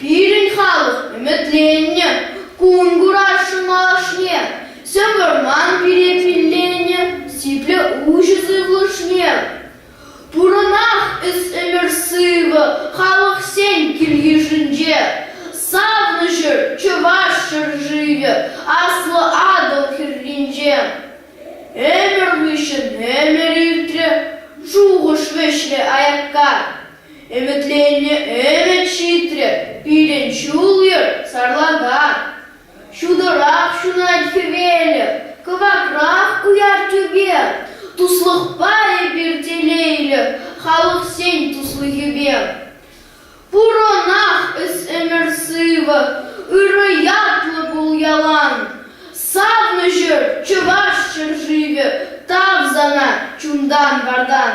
Пирӗн халӑх ӗмӗтленнӗ кун курасшӑн малашне, сӗм вӑрман пире килленӗ сиплӗ уҫӑ сывлӑшне. Пурӑнах эс ӗмӗр-сывӑ халӑхсен кил-йышӗнче, савнӑҫӑр чӑваш ҫӗршывӗ Аслӑ Атӑл хӗрринче. Ӗмӗр хыҫҫӑн ӗмӗр иртрӗ, шухӑш вӗҫрӗ аякка. Ӗмӗтленнӗ ӗмӗт ҫитрӗ, пирӗн ҫул-йӗр сарлакан. Ҫутӑрах ҫунать хӗвелӗх, кӑвакрах уяр тӳпе. Туслӑхпа эпир телейлӗх, халӑхсен туслӑхӗпе. Пурӑнах эс ӗмӗр сывӑ, ырӑ ятлӑ пул ялан. Савнӑҫӑр чӑваш ҫӗршывӗ, тав сана чунтан-вартан.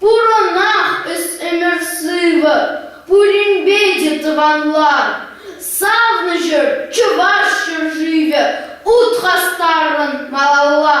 Пурӑнах эс ӗмӗр сывӑ, пуринпе те тӑванлан. Савнӑҫӑр Чӑваш ҫӗршывӗ, ут хастаррӑн малалла.